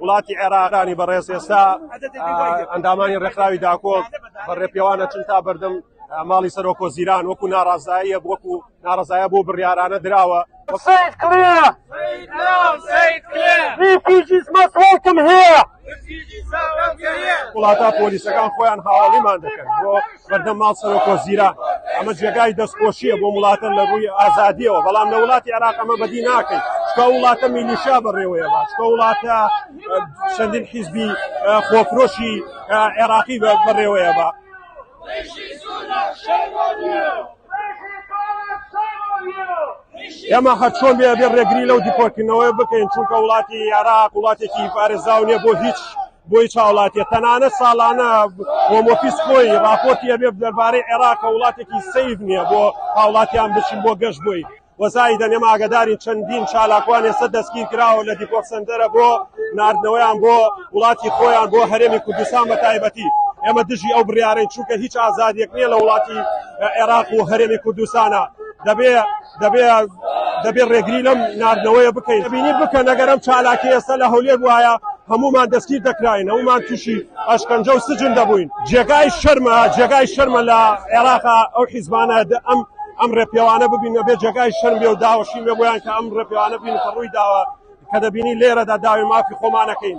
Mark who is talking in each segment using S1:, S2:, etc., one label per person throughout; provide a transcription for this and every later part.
S1: وڵاتی عێراقانی بەڕێز ئێستا ئەندامانی ڕێکخراوی داکۆک بە ڕێپێوانە چون تا بەردەم ماڵی سەرۆکۆ زیران وەکو ناڕازاییە وەکو ناڕزایە بۆ بڕیارانە دراوە سید کلێ وڵاتە پۆلیسەکان خۆیان هاوڵیمان دەکەن بۆ بەردەم ماڵ سەرۆک وەزیران ئەمە جێگای دەستخۆشیە بۆ وڵاتە لە ڕووی ئازادیەوە بەڵام لە وڵاتی عراق ئەمە بەدی ناکەین چکە وڵاتە میلیشا بەڕێوەیە چکە وڵاتە چەندین حیزبی خۆفرۆشی عێراقی بەڕێوەیە بە ئێمە هەرچۆن بێ بێ ڕێگری لەو دیپۆرتکردنەوەی بکەین چونکە وڵاتی عراق وڵاتێکی پارێزاونیە بۆ هیچ بۆ هیچ هاوڵاتیە تەنانەت ساڵانە هۆم ئۆفیس خۆی ڕاپۆرتی ئەبێ دەربارەی عێراق کە وڵاتێکی سەیف نییە بۆ هاوڵاتیان بچین بۆ گەشت بۆی وەزای دەنێم ئاگدارین چەندین چالاکوان ئێستا دەستگیر کراوە لە دیپۆک سندەرە بۆ نردنەوەیان بۆ وڵاتی خۆیان بۆ هەرێمی کوردستان بە تایبەتی ئێمە دژی ئەو بڕیارەی چووکە هیچ ئازادیەک نییە لە وڵاتی عێراق و هەرێمی کوردستانە دەبێ دەبێ دەبێ ڕێگری لەم ناردنەوەیە بکەین بینی بکەن ئەگەر ئەم چالاکی ئێستا لە هەولێر بواە هەمومان دەستگیر دەکراین هەمومان تووشی ئەشکەنجە و سجن دەبووین جێگای شەرمە جێگای شەرمە لە عێراقا ئەو حیزبانە ئەم ئەم ڕێپێوانە ببینە بێ جێگای شەرم بێ و داوەشی بێ بۆیان کە ئەم ڕێپێوانە بین کە ڕووی داوە کە دەبینی لێرەدا داوی مافی خۆمانەکەین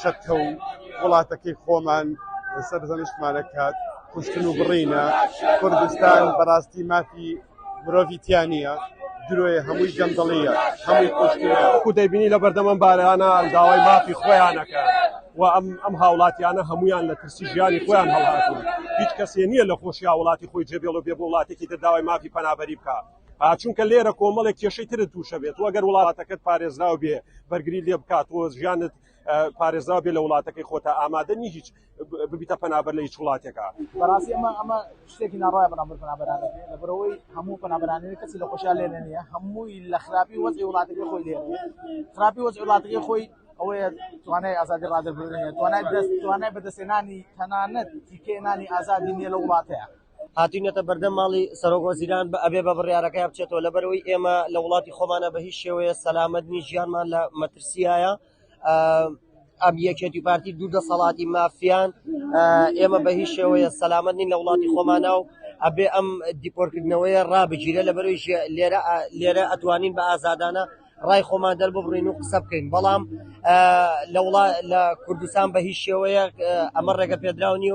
S1: چەتە و وڵاتەکەی خۆمان سەرزەنشتمان ئەکات، کوشتن و بڕینە، کوردستان بەڕاستی مافی مرۆڤی تیا نییە، درۆیە، هەمووی گەندەڵییە، هەمووی کوشتنە. وەکو دەیبینی لەبەردەم ئەم بارانە داوای مافی خۆیان ئەکەن و ئەم هاوڵاتیانە هەموویان لە ترسی ژیانی خۆیان هەڵهاتوون، هیچ کەسێ نییە لە خۆشی هاوڵاتی خۆی جێبێڵ و بێ بۆ وڵاتێکی تر داوای مافی پەنابەری بکا، چونکە لێرە کۆمەڵێک کێشەی ترت تووشە بێت و ئەگەر وڵاتەکەت پارێزراو بێ بەرگری لێ بکات و ژیانت پارێزراو بێ لە وڵاتەکەی خۆتە ئامادە نی هیچ ببیتە پەنابەر لە هیچ وڵاتێکە بەڕاستی ئەمە ئەمە
S2: شتێکی ناڕای بەنامبەر پەنابەرانەکە لە بەرەوەی هەموو پەنابەرانەوە کەسی لە خۆشیان لێ نیە هەمووی لە خراپی وەزی وڵاتەکە خۆی لێ خراپی وەز وڵاتەکە خۆی ئەوەیە توانای ئازادی ڕادەبرێت توانای دەست توانای بەدەستێنانی تەنانەت تیکێنانی ئازادی نیە لە وڵاتەیە هاتوینەتە بەردەم
S3: ماڵی سەرۆک وەزیران بە ئەبێ بە بڕیارەکەی بچێتەوە لەبەرەوەی ئێمە لە وڵاتی خۆمانە بە هیچ شێوەیە سەلامەت نی ژیانمان لە مەترسیایە ئەم یەکێتی پارتی دوو دەسەڵاتی مافیان ئێمە بە هیچ شێوەیە سەلامەت نین لە وڵاتی خۆمانە و ئەبێ ئەم دیپۆرکردنەوەیە ڕابگیرە لە بەرەوەی لێرە لێرە ئەتوانین بە ئازادانە ڕای خۆمان دەرببڕین و قسە بکەین بەڵام لە وڵات لە کوردستان بە هیچ شێوەیە ئەمە ڕێگە پێدراو نیە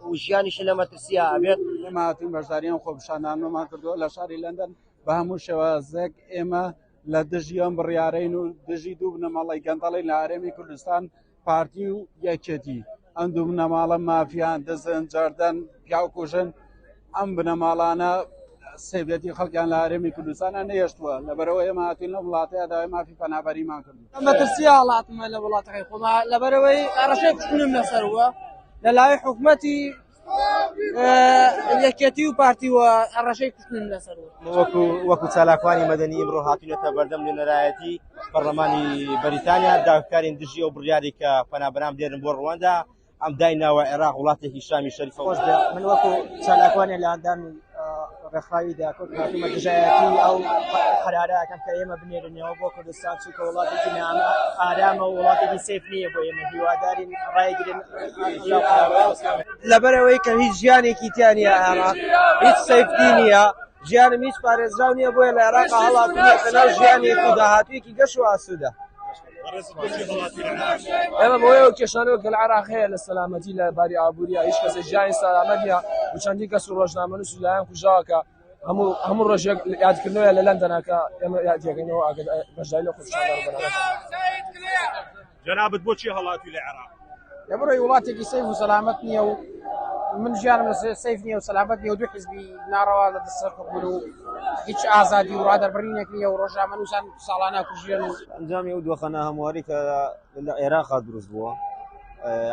S3: و ژیانیشی لە مەترسیە ئەبێت ماتین بەشداریان
S4: خۆپشانانمان کردووە لە شاری لەندەن بە هەموو شێوازێک ئێمە لە دژیان بڕیارین و دژی دوو بنەماڵی گەندەڵی لە ئارێمی کوردستان پارتی و یەکێتی ئەم دوو بنەماڵە مافیان دەزن جاردەن پیاو کوژن ئەم بنەماڵانە سێبێتی خەڵکیان لە هەرێمی کوردستانە نەهێشتووە لەبەرەوە ئێمە هاتوین لە وڵاتەیە داوای مافی پەنابەریمان کرد مەترسی هاڵاتمە
S2: لە وڵاتەکەی خۆما لەبەرەوەی ئەڕەشەی کوشتنم لەسەر وە لە لای حکومەتی یەکێتی و پارتی و هەڕەشەی کوشتن لەسەر وەکو وەکو
S3: چالاکوانی مەدەنی ئمڕۆ هاتوونەتە بەردەم نوێنەرایەتی پەرلەمانی بەریتانیا داکارین دژی ئەو بڕیاری کە پەنابران بێرن بۆ ڕواندا ئەم دایناوە عێراق وڵاتێکی شامی شەریفەوەش من وەکو
S2: چالاکوانی لەندەن ڕێکخراوی دیاکۆک هاتوومە دژایەتی ئەو قەرارەکەم کە ئێمە بنێرنەوە بۆ کوردستان چونکە وڵاتێکی نامە ئارامە و وڵاتێکی سیف نییە بۆ ئێمە هیوادارین ڕایگرن لەبەرەوەی کە هیچ ژیانێکی تیانە ئەمە هیچ سیفتی نییە ژیانم هیچ پارێزراو نییە بۆیە لە عێراقا هەڵاتووە کە ناو ژیانێکی داهاتوویەکی گەش و ئاسوودە
S5: ئێمە بۆیە و کێشانەوە کە لە عراق هەیە لە سەلامەتی لە باری ئابووریە هیچ کەسە ژیانی سەلامەتە و چەندی کەس و ڕۆژنامەن و سولایان کوژاوەکە هەموو هەموو ڕۆژێک یادکردنەوە لە لەندەناکە ئێمە یادەکەینەوە ئاگەر بەشدای لە خۆششان جنابت بۆچی هەڵاتی لە عێراق
S6: لە بڕۆی وڵاتێکی
S2: سەیف و سەلامەت نییە و من ژیانم لە سەیف نیە و سەلامەت نیە و دوو حزبی ناڕەوا لە دەسەر حکومر و هیچ ئازادی و ڕادەربڕینێک نیە و ڕۆژامە نووسان ساڵانە کوژێن و ئەنجامی و دۆخەنە
S7: هەمواری کە لە عێراقا دروست بووە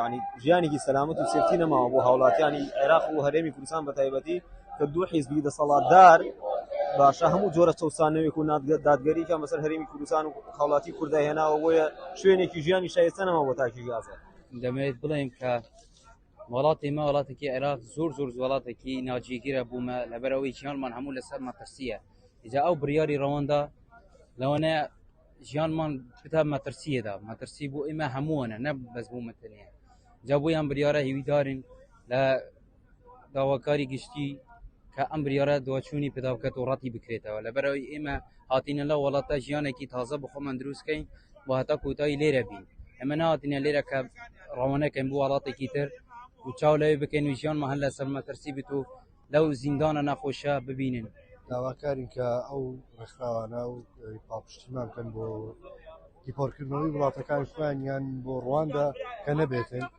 S7: ینی ژیانێکی سەلامەت و سێتی نەماوە بۆ هاوڵاتیانی عێراق و هەرێمی کوردستان بە تایبەتی کە دوو حیزبی دەسەڵاتدار باشە هەموو جۆرە چەسانەوەێک و نادگە دادگەریکە مەسەر هەرمی کوردستان و هاوڵاتی کوردا هێناوە بۆیە شوێنێکی ژیانی شایستە نەما بۆ تاکی گازە دەمەوێت بڵێم
S8: کە وڵاتی مە وڵاتێکی عێراق زۆر زۆر وڵاتێکی ناجیگیرە بوومە لەبەرەوەی چیانمان هەموو لەسەر مەترسیە جا ئەو بڕیاری ڕەوەندا لەوانە ژیانمان بتا مەترسیەدا مەترسی بۆ ئێمە هەمووانە نە بەس بوو مەتەنە جا بۆیان بریاارە هیویدارین لە داواکاری گشتی کە ئەم بریارە دواچوونی پێدا بکات و ڕەتی بکرێتەوە لەبەرەوەی ئێمە هاتینە لە وڵاتە ژیانێکی تازە بە خۆمان دروستکەین و هەتا کۆتایی لێرە بین ئەمە ناتینە لێرە کە ڕەوانەکەن بۆ وڵاتێکی تر و چاو لەوێ بکەین و ژیانمان هەر لەسەر مەترسی بێت و لەو زیندانە نەخۆشە ببینن داواکارین کە
S9: ئەو ڕێکخراوانە و پاپشتیمان بکەن بۆ دیپۆرکردنەوەی وڵاتەکان خوێنیان بۆ ڕواندا کە نەبێتن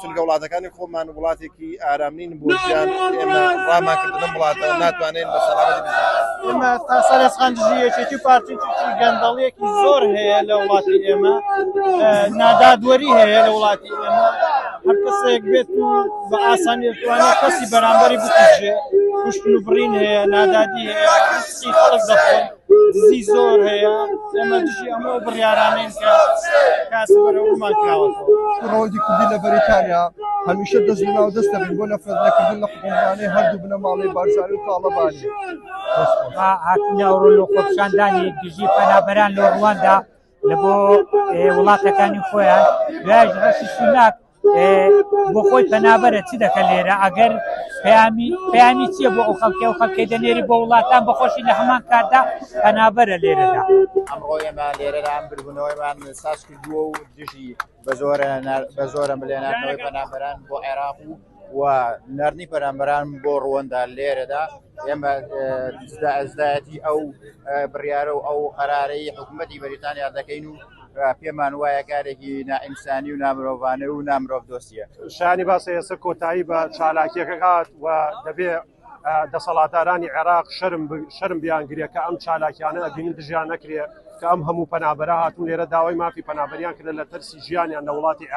S9: چونکە وڵاتەکانی خۆمان وڵاتێکی ئارام نین بۆ ژیان ئێمە ڕامان کرد لەم وڵاتەوە ناتوانین بە سەلامەتی بژین ئێمە تا سەر ئێسقان
S2: دژی یەکێتی و پارتی چونکی گەندەڵیەکی زۆر هەیە لە وڵاتی ئێمە نادادوەری هەیە لە وڵاتی ئێمە هەر کەسێک بێت و بە ئاسانی توانێت کەسی بەرامبەری بکوژێ کوشتن و بڕین هەیە نادادی هەیە هەستی خەڵک دەخۆن دزی زۆر هەیە ئێمە دژی ئەمە بڕیارانین کە کاسبەرەوەمان کراوەەوە ڕۆژی کوردی لە
S9: بەریتانیا هەمیشە دەست ناو دەست دەبین بۆ نەفرەت نەکردن لە حکومرانی هەردوو بنەماڵی بارزانی و تاڵەبانی
S10: هاتنی ئەوڕۆ لە خۆپشاندانی دژی پەنابەران لە ڕواندا لە بۆ وڵاتەکانی خۆیان دوایش ڕەشی سوناک بۆ خۆی پەنابەرە چی دەکە لێرە ئەگەر پەیامی پەیامی چییە بۆ ئەو خەڵکی و خەڵکی دەنێری بۆ وڵاتان بەخۆشی لە هەمان کاتدا پەنابەرە لێرەدا ئەمڕۆ ئێمە
S11: لێرە ئەم بربوونەوەیمان ساز کردووە و دژی بەزۆرە بەزۆرە ملێ ناردنەوەی پەنابەران بۆ عێراق و و نردنی پەرامبەران بۆ ڕوەندا لێرەدا ئێمە ئەزدایەتی ئەو بڕیاە و ئەو قەرارەی حکوومەتتی بەریتانیا دەکەین و پێمان وایە کارێکی نائینسانی و نامرۆڤانە و نامرۆڤ دۆسیە شانی باسە ئێستا
S6: کۆتایی بە چالاکیەکە هات و دەبێ دەسەڵاتدارانی عێراق شەرم شەرم بیان گرێ کە ئەم چالاکیانە ئەبینن دژیان نەکرێ کە ئەم هەموو پەنابەرە هاتون لێرە داوای مافی پەنابەریان کردە لە تەرسی ژیانیان لە وڵاتی عێراق.